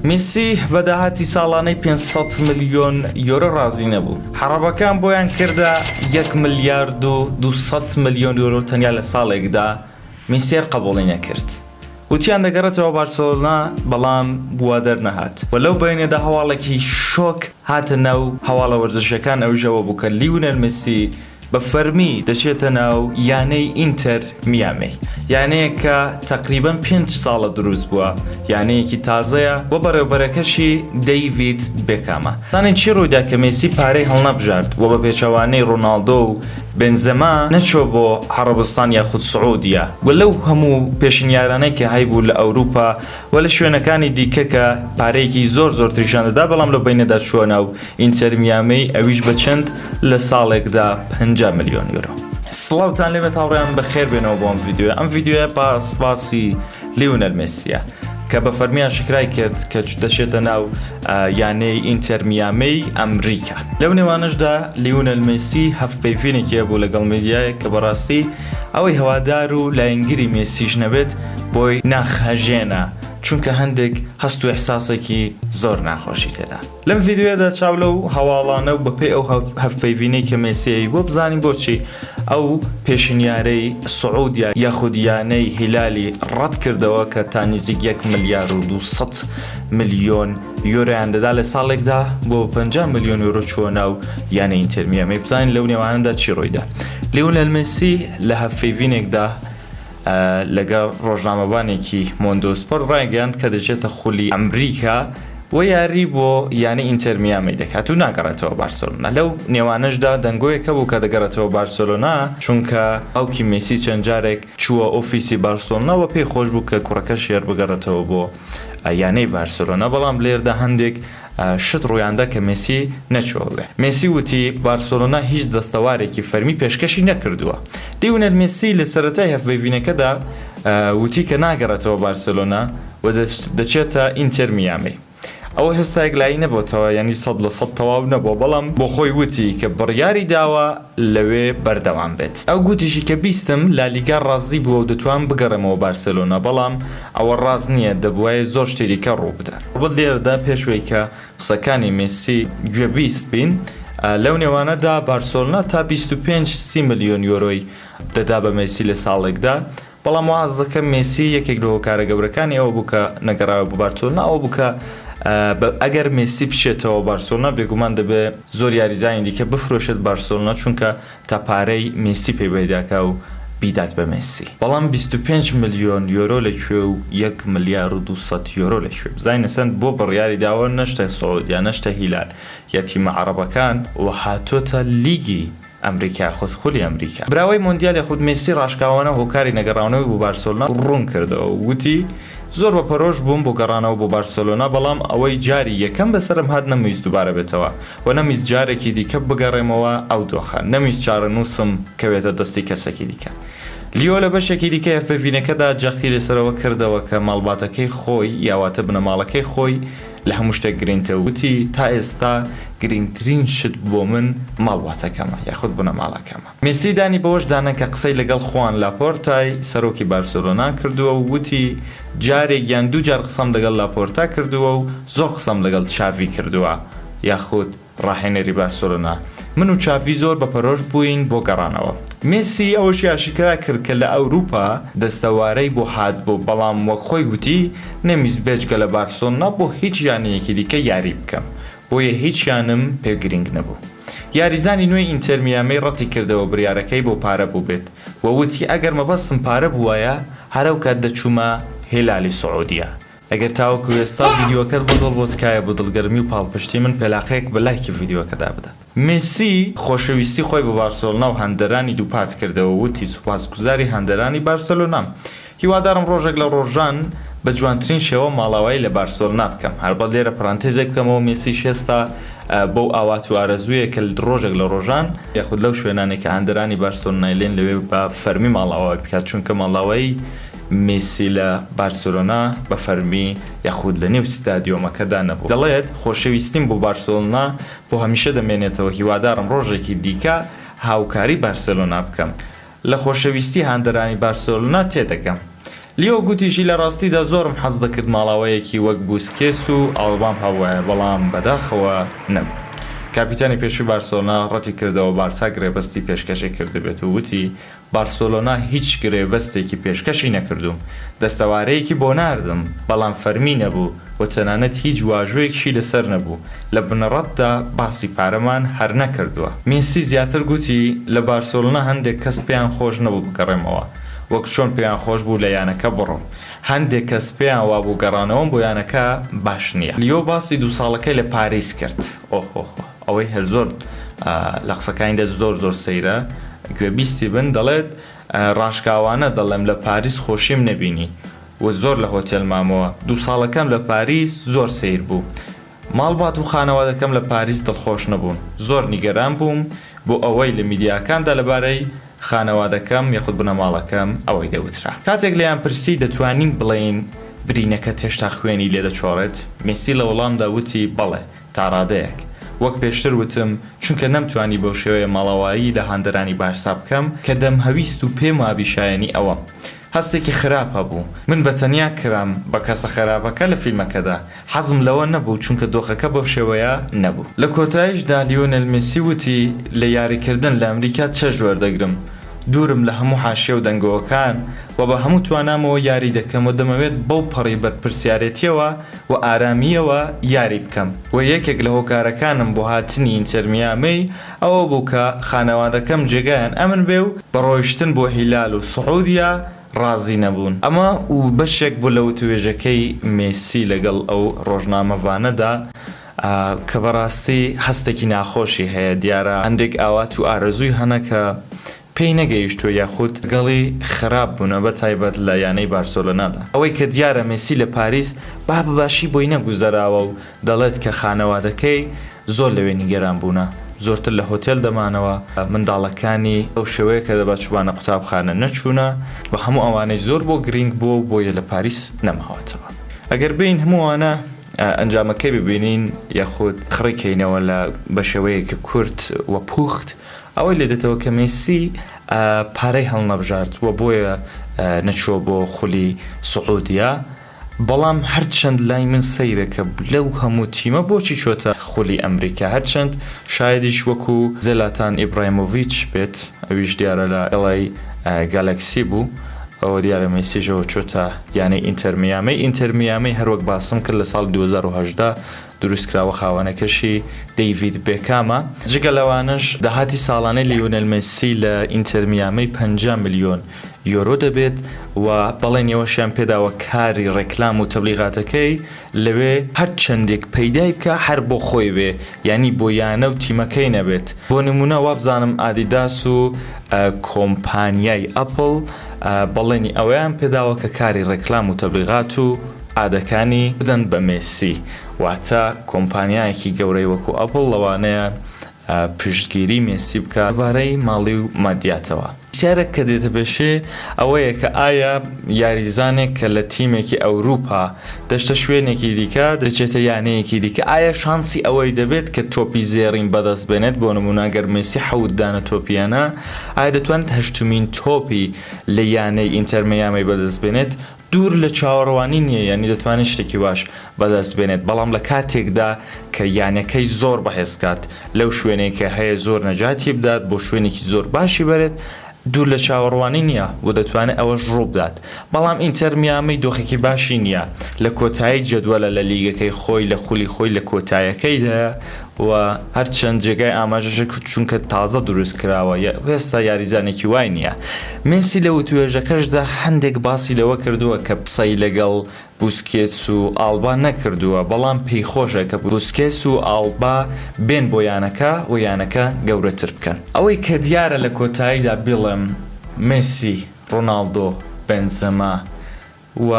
میسی بە داهاتی ساڵانەی پێنج سەد ملیۆن یۆرۆ رازی نەبوو، عەڕەبەکان بۆیان کردە یەک ملیارد و دوو سەد ملیۆن یۆرۆ تەنیا لە ساڵێکدا، میسیەر قەبوڵی نەکرد، وتیان دەگەڕێتەوە بارسێلۆنا، بەڵام وا دەرنەهات و لەو بەینەدا هەواڵێکی شۆک هاتە ناو هەواڵە وەرزشییەکان ئەویش ئەوە بوو کە لیونێل میسی، بە فەرمی دەچێتە ناو یانەی ئینتەر میامی، یانەیەک کە تەقریبەن پێنج ساڵە دروست بووە، یانەیەکی تازەیە و بەڕێوەبەرەکەشی دەیڤید بێکامە. زانین چی ڕوویدا کە مێسی پارەی هەڵنەبژارد و بە پێچەوانەی ڕۆناڵدۆ و بنزما نەچووە بۆ عەڕەبستان یاخود سعودیە و لەو هەموو پێشنیارانەی کە هەیبوو لە ئەوروپا وە لە شوێنەکانی دیکە کە پارەیەکی زۆر زۆر تریشیان دەدا بەڵام لەو بەینەدا چووە ناو ئینتەر میامی ئەویش بە چەند لە ساڵێکدا پەنجا ملیۆن یۆرۆ. سڵاوتان لێبێت هاوڕێیان بەخێر بێنەوە بۆ ئەم ڤیدیۆیە ئەم ڤیدیۆیە پاس باسی لیونەل مێسیە کە بە فەرمی ئاشکرای کرد کە چ دەچێتە ناو یانەی ئینتەر میامی ئەمریکا لەو نێوانەشدا لیونەل مێسی هەڤپەیڤینێکی هەبوو لەگەڵ میدیایەک کە بەڕاستی ئەوەی هەوادار و لایەنگری مێسیش نەبێت بۆی ناخهەژێنە چونکە هەندێک هەست و ئیحساسێکی زۆر ناخۆشی تێدا. لەم ڤیدیۆیەدا چاو لەو هەواڵانە و بەپێی ئەو هەڤپەیڤینەی کە مێسی ئەیبووە بزانین بۆچی ئەو پێشنیارەی سعودیە یاخود یانەی هیلالی ڕەتکردەوە کە تا نزیک یەک ملیار و دوو سەد ملیۆن یۆرۆیان دەدا لە ساڵێکدا بۆ پەنجا ملیۆن یۆرۆ چووە ناو یانە ئینتێر میامی بزانین لەو نێوانەدا چی ڕوویدا لیۆنێل مێسی لە هەڤپەیڤینێکدا لەگەڵ ڕۆژنامەوانێکی مۆندۆسپۆر ڕایگەیاند کە دەچێتە خولی ئەمریکا و یاری بۆ یانە ئینتێر میامی دەکات و ناگەڕێتەوە بارسێلۆنا لەو نێوانەشدا دەنگۆیەک هەبوو کە دەگەڕێتەوە بارسێلۆنا چونکە باوکی مێسی چەند جارێک چووە ئۆفیسی بارسێلۆنا و پێی خۆش بوو کە کوڕەکەشی هەر بگەڕێتەوە بۆ یانەی بارسێلۆنا، بەڵام لێردا هەندێک شت روویاندا کە مێسی نەچووەوێ. مێسی وتی، بارسێلۆنا هیچ دەستەوارێکی فەرمی پێشکەشی نەکردووە. لیونێل مێسی لە سەرەتای هەڤپەیڤینەکەدا وتی کە ناگەڕێتەوە بارسێلۆنا و دەچێتە ئینتێر میامی. ئەوە هێستا یەکلایی نەبۆتەوە، یانی سەد لە سەد تەواو نەبووە، بەڵام بۆخۆی وتی کە بڕیاریداوە. لەوێ بەردەوام بێت. ئەو گوتیشی کە بیستم لالیگا ڕازی بووە و دەتوانم بگەڕێمەوە بارسێلۆنا، بەڵام ئەوە ڕاست نییە، دەبوایە زۆر شتی دیکە ڕووبدات. ئەڵبەت لێرەدا پێش وەی کە قسەکانی مێسی گوێبیست بین، لەو نێوانەدا بارسۆلنا تا بیست و پێنج سی ملیۆن یۆرۆی دەدا بە مێسی لە ساڵێکدا، بەڵام واز دەکەم مێسی یەکێک لە هۆکارە گەورەکانی ئەوە بوو کە نەگەڕایەوە بۆ بارسۆلنا ئەوە بوو کە ئەگەر مێسی بچێتەوە بارسۆلنا بێگومان دەبێت زۆر یاریزانی دیکە بفرۆشێت بارسۆلنا چونکە تا پارەی مێسی پێی بەیداکا و بیدات بە مێسی بەڵام بیست و پێنج ملیۆن یۆرۆ لە کوێ و یەک ملیار و دوو سەد یۆرۆ لە کوێ بزانین ئەسەن بۆ بڕیاری داوە نەشتە سعودیە نەشتە هیلال یا تیمە عەڕەبەکان و هاتۆتە لیگی ئەمریکا خود خولی ئەمریکا. براوەی مۆندیال یاخود مێسی راشکاوانە هۆکاری نەگەڕاونەوەی بۆ بارسۆلنا روون کردەوە و وتی زۆر بە پەرۆش بووم بۆ گەڕانەوە بۆ بارسۆلۆنا بەڵام ئەوەی جاری یەکەم بەسەرم هات نەمویست دووبارە بێتەوە و نەمویست جارێکی دیکە بگەڕێمەوە ئەو دۆخە نەمویست چارەنووسم کەوێتە دەستی کەسێکی دیکە. لیۆ لە بەشێکی دیکەی FBVinەکەدا جەختی لەسەرەوە کردەوە کە ماڵباتەکەی خۆی یاواتە بنەماڵەکەی خۆی، لە هەموو شتێک گرنگتر وتی، تا ئێستا گرنگترین شت بۆ من ماڵباتەکەمە یاخود بنەماڵەکەمە. مێسی دانی بەوەش دا نا کە قسەی لەگەڵ خوان لاپۆرتای سەرۆکی بارسێلۆنا کردووە و وتی، جارێک یان دوو جار قسەم لەگەڵ لاپۆرتا کردووە و زۆر قسەم لەگەڵ چاڤی کردووە یاخود ڕاهێنەری بارسێلۆنا، من و چاڤی زۆر بەپەرۆش بووین بۆ گەڕانەوە. مێسی ئەوەشی ئاشکرا کرد کە لە ئەوروپا دەستەوارەی بۆ هاتبوو، بەڵام وەک خۆی گوتی، نەمویست بێجگە لە بارسێلۆنا بۆ هیچ یانەیەکی دیکە یاریی بکەم، بۆیە هیچ یانەم پێ گرینگ نەبوو. یاریزانی نوێی ئینتێر میامی ڕەتیکردەوە بڕیارەکەی بۆ پارە بووبێت و وتی، ئەگەر مەبەستم پارە بووایە، هەرەوکات دەچوومە هیلالی سعودیە، ئەگەر تاوەکو ئێستا ڤیدیۆکەت بۆ دڵ بوو تکایە بۆ دڵگەرمی و پاڵپشتی من پێلاقەیەک بە لایکی ڤیدیۆکە دابدە. مێسی خۆشەویستی خۆی بە بارسێلۆنا و هەندەرانی دووپات کردەوە و وتی سوپاسگوزاری هەندەرانی بارسێلۆنام. هیوادارم ڕۆژێک لە ڕۆژان بە جوانترین شێوە ماڵاوایی لە بارسێلۆنا بکەم. هەربەت لێرە پەرانتێزێک بکەمەوە مێسیش هێستا بەو ئاوات و ئارەزوویە کە ڕۆژێک لە ڕۆژان، یاخود لەو شوێنانەی کە هەندەرانی بارسێلۆنای لێن لەوێ بە فەرمی ماڵاوایی بکات، چونکە ماڵاوایی میسی لە بارسێلۆنا بە فەرمی یاخود لە نێو ستادیۆمەکەدا نەبوو. دەڵێت، خۆشەویستیم بۆ بارسێلۆنا بۆ هەمیشە دەمێنێتەوە، هیوادارم ڕۆژێکی دیکە هاوکاری بارسێلۆنا بکەم. لە خۆشەویستی هاندەرانی بارسێلۆنا تێدەگەم. لیۆ گوتیشی، لە ڕاستیدا زۆرم حەز دەکرد ماڵاوەیەکی وەک بوسکێس و ئالبام هەبوایە، بەڵام بەداخەوە نەبوو. کاپیتانی پێشووی بارسێلۆنا ڕەتیکردەوە بارسا گرێبەستی پێشکەشی کردبێت و وتی، بارسێلۆنا هیچ گرێبەستێکی پێشکەشی نەکردووم، دەستەوارەیەکی بۆ ناردم، بەڵام فەرمی نەبوو و تەنانەت هیچ واژۆیەکشی لەسەر نەبوو، لە بنەڕەتدا باسی پارەمان هەر نەکردووە. مێسی زیاتر گوتی، لە بارسێلۆنا هەندێک کەس پێیان خۆش نەبوو بگەڕێمەوە، وەک چۆن پێیان خۆش بوو لە یانەکە بڕۆم، هەندێک کەس پێیان وابوو گەڕانەوەم بۆ یانەکە باش نییە. لیۆ باسی دوو ساڵەکەی لە پاریس کرد. ئەوەی هەر زۆر لە قسەکانیدا زۆر زۆر سەیرە گوێ بیستی بن دەڵێت ڕاشکاوانە دەڵێم لە پاریس خۆشیم نەبینی و زۆر لە هۆتێل مامەوە دوو ساڵەکەم لە پاریس زۆر سەیر بوو ماڵبات و خانەوادەکەم لە پاریس دڵخۆش نەبوون زۆر نیگەران بووم بۆ ئەوەی لە میدیاکاندا لەبارەی خانەوادەکەم یاخود بنەماڵەکەم ئەوەی دەوترا کاتێک لێیان پرسی دەتوانین بڵێین برینەکەت هێشتا خوێنی لێ دەچۆڕێت؟ مێسی لە وڵامدا وتی بەڵێ تاڕادەیەک وەک پێشتر وتم چونکە نەمتوانی بەو شێوەیە ماڵاوایی لە هاندەرانی بارسا بکەم کە دەمهەویست و پێم وابی شایەنی ئەوەم. هەستێکی خراپ هەبوو. من بە تەنیا کرام بە کەسە خەراپەکە لە فیلمەکەدا. حەزم لەوە نەبوو چونکە دۆخەکە بەو شێوەیە نەبوو. لە کۆتاییشدا لیۆنێل مێسی وتی لە یاریکردن لە ئەمریکا چێژ وەردەگرم. دوورم لە هەموو حاشیە و دەنگۆوەکان و بە هەموو توانامەوە یاری دەکەم و دەمەوێت بەو پەڕی بەرپرسیارێتییەوە و ئارامییەوە یاری بکەم و یەکێک لە هۆکارەکانم بۆ هاتنی ئینتەرمیامی ئەوە بوو کە خانەوادەکەم جێگایان ئەمن بێ و بە ڕۆیشتن بۆ هیلال و سعودیە ڕازی نەبوون. ئەمە بەشێک بوو لە وتووێژەکەی مێسی لەگەڵ ئەو ڕۆژنامەڤانەدا کە بەڕاستی هەستێکی ناخۆشی هەیە دیارە هەندێک ئاوات و ئارەزووی هەنە کە پێی نەگەیشتووە یاخود گەڵی خراپ بوونە بە تایبەت لە یانەی بارسۆلۆنادا. ئەوەی کە دیارە مێسی لە پاریس با بە باشی بۆی نەگوزەراوە و دەڵێت کە خانەوادەکەی زۆر لەوێ نیگەران بوونە، زۆرتر لە هۆتێل دەمانەوە، منداڵەکانی ئەو شێوەیە کە دەبا چووبانە قوتابخانە نەچوونە و هەموو ئەوانەی زۆر بۆ گرینگ بووە و بۆیە لە پاریس نەماوەتەوە. ئەگەر بێین هەموو ئەوانە ئەنجامەکەی ببینین یاخود خڕی کەینەوە لە بە شێوەیەکی کورت و پوخت، ئەوەی لێ دێتەوە کە مێسی پارەی هەڵنەبژارد و بۆیە نەچووە بۆ خولی سعودیە، بەڵام هەرچەند لای من سەیرە کە لەو هەموو تیمە بۆچی چووەتە خولی ئەمریکا، هەرچەند شایەدیش وەکو زلاتان ئیبرایمۆڤیچ بێت، ئەویش دیارە لە LA Galaxy بوو، ئەوە دیارە مێسیش ئەوە چووەتە یانەی ئینتەر میامی، ئینتەر میامی هەروەک باسم کرد لە ساڵی دوو هەزار و هەژدە، دروستکراوە خاوەنەکەشی دەیڤید بێکامە، جگە لەوانەش داهاتی ساڵانەی لیۆنێل مێسی لە ئینتێر میامی پەنجا ملیۆن یۆرۆ دەبێت و بەڵێنی ئەوەشیان پێداوە کاری رێکلام و تەبلیغاتەکەی لەوێ هەر چەندێک پەیدای بکا هەر بۆ خۆی بێ یانی بۆ یانە و تیمەکەی نەبێت بۆ نمونە وابزانم ئادیداس و کۆمپانیای ئەپڵ بەڵێنی ئەوەیان پێداوە کە کاری رێکلام و تەبلیغات و ئادەکانی بدەن بە مێسی واتە کۆمپانیایەکی گەورەی وەکو ئەپڵ لەوانەیە پشتگیری مێسی بکات لەبارەی ماڵی و مادیاتەوە. پرسیارێک کە دێتە پێشێ ئەوەیە کە ئایا یاریزانێک کە لە تیمێکی ئەوروپا دەچتە شوێنێکی دیکە دەچێتە یانەیەکی دیکە ئایا شانسی ئەوەی دەبێت کە تۆپی زێڕین بەدەست بێنێت بۆ نمونە گەر مێسی حەوت دانە تۆپی هێنا ئایا دەتوانێت هەشتمین تۆپی لە یانەی ئینتەر میامی بەدەست بێنێت دوور لە چاوەڕوانی نییە یانە دەتوانێت شتێکی باش بەدەست بێنێت، بەڵام لە کاتێکدا کە یانەکەی زۆر بەهێز بکات، لەو شوێنەی کە هەیە زۆر نەجاتی بدات، بۆ شوێنێکی زۆر باشی بەرێت، دوور لە چاوەڕوانی نییە و دەتوانێت ئەوەش ڕووبدات، بەڵام ئینتەر میامی دۆخێکی باشی نییە، لە کۆتایی جەدوەلە لە لیگەکەی خۆی، لە خولی خۆی لە کۆتایەکەیدایە و هەرچەند جێگای ئاماژەشە چونکە تازە دروستکراوە هێستا یاریزانێکی وای نییە. مێسی لە وتووێژەکەشدا هەندێک باسی لەوە کردووە کە قسەی لەگەڵ بوسکێتس و ئاڵبا نەکردووە، بەڵام پێیخۆشە کە بوسکێتس و ئاڵبا بێن بۆ یانەکە و یانەکە گەورەتر بکەن. ئەوەی کە دیارە لە کۆتاییدا بیڵێم مێسی، ڕۆناڵدۆ، بێنزێما، و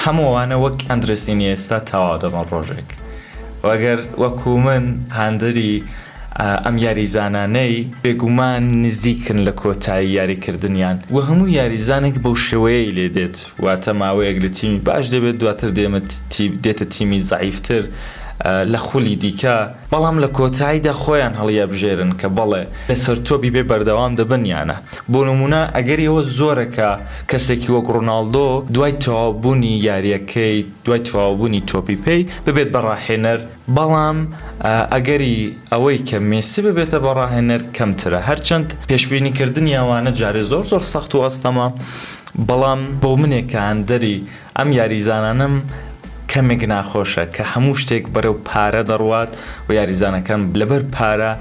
هەموو ئەوانە وەک ئەندرێس ئینیێستا تەواو دەبن ڕۆژێک و ئەگەر وەکو من هاندەری ئەم یاریزانانەی بێگومان نزیکن لە کۆتایی یاریکردنیان و هەموو یاریزانێک بەو شێوەیەی لێ دێت واتە ماوەیەک لە تیمی باش دەبێت دواتر دێتە تیمی زەعیفتر لە خولی دیکە. بەڵام لە کۆتایدا خۆیان هەڵیەبژێرن کە بەڵێ لە سەرچۆپی پێ بەردەوام دەبن یا نا. بۆ نموونە ئەگەری ئەوە زۆرە کە کەسێکی وەک ڕۆناڵدۆ دوای تەواوبوونی یارییەکەی، دوای تەواوبوونی تۆپی پێی ببێت بە ڕاهێنەر، بەڵام ئەگەری ئەوەی کە مێسی ببێتە بە ڕاهێنەر کەمترە، هەرچەند پێشبینیکردنی ئەوانە جارێ زۆر زۆر سەخت و ئەستەمە، بەڵام بۆ منێک کە هاندەری. ئەم یاریزانانەم کەمێک ناخۆشە کە هەموو شتێک بەرەو پارە دەڕوات و یاریزانەکان لەبەر پارە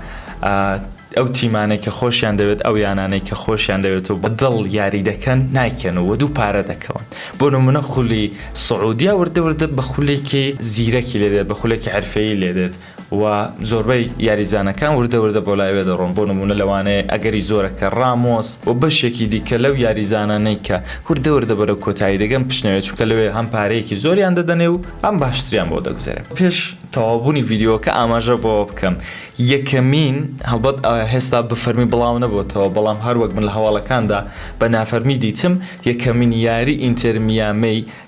ئەو تیمانەی کە خۆشیان دەوێت ئەو یانانەی کە خۆشیان دەوێت و بە دڵ یاری دەکەن نایکەن و دوو پارە دەکەون بۆ نمونە خولی سعودیا وردە وردە بە خولێکی زیرەکی لێدێت بە خولێکی عرفەیە لێدێت و زۆربەی یاریزانەکان وردە وردە بۆ لایوێ دەڕۆن، بۆ نموونە لەوانەیە ئەگەری زۆرە کە ڕامۆس و بەشێکی دیکە لەو یاریزانانەی کە وردە وردە بەرەو کۆتایی دەگەن بشنەوێ، چونکە لەوێ هەم پارەیەکی زۆریان دەدەنێ و هەم باشتریان بۆ دەگوزەرێ. پێش تەواوبوونی ڤیدیۆکە ئاماژە بەوە بکەم، یەکەمین، هەڵبەت هێستا بە فەرمی بڵاو نەبۆتەوە، بەڵام هەر وەک من لە هەواڵەکاندا بە نافەرمی دیتم، یەکەمین یاری ئینتێر میامێی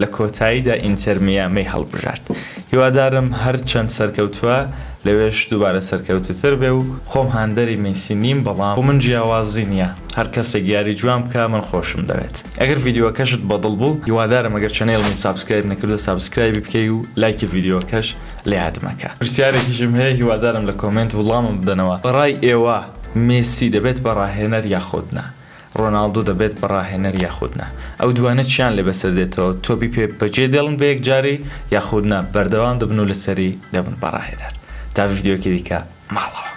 لە کۆتاییدا ئینتەر میامی هەڵبژارد. هیوادارم هەر چەند سەرکەوتوە لەوێش دووبارە سەرکەوتوتر بێ و خۆم هاندەری میسی نیم بەڵام بۆ من جیاوازی نیە هەر کەسێک یاری جوان بکا من خۆشم دەوێت. ئەگەر ڤیدیۆکەشت بە دڵ بوو هیوادارم ئەگەر چەنێڵمی سابسکرایب نەکردوە سابسکرایبی بکەی و لایکی ڤیدیۆکەش لەیاد مەکە. پرسیارێکیشم هەیە هیوادارم لە کۆمێنت وڵامم بدەنەوە بەڕای ئێوە میسی دەبێت بە ڕاهێنەر یاخود نا؟ ڕۆناڵدۆ دەبێت بە ڕاهێنەر یاخود نا؟ ئەو دووانە چیان لێ بەسەر دێتەوە، تۆپی پێ بەجێ دێڵن بە یەکجاری یاخود نا بەردەوام دەبن و لەسەری دەبن بە ڕاهێنەر؟ تا ڤیدیۆیەکی دیکە ماڵەوە.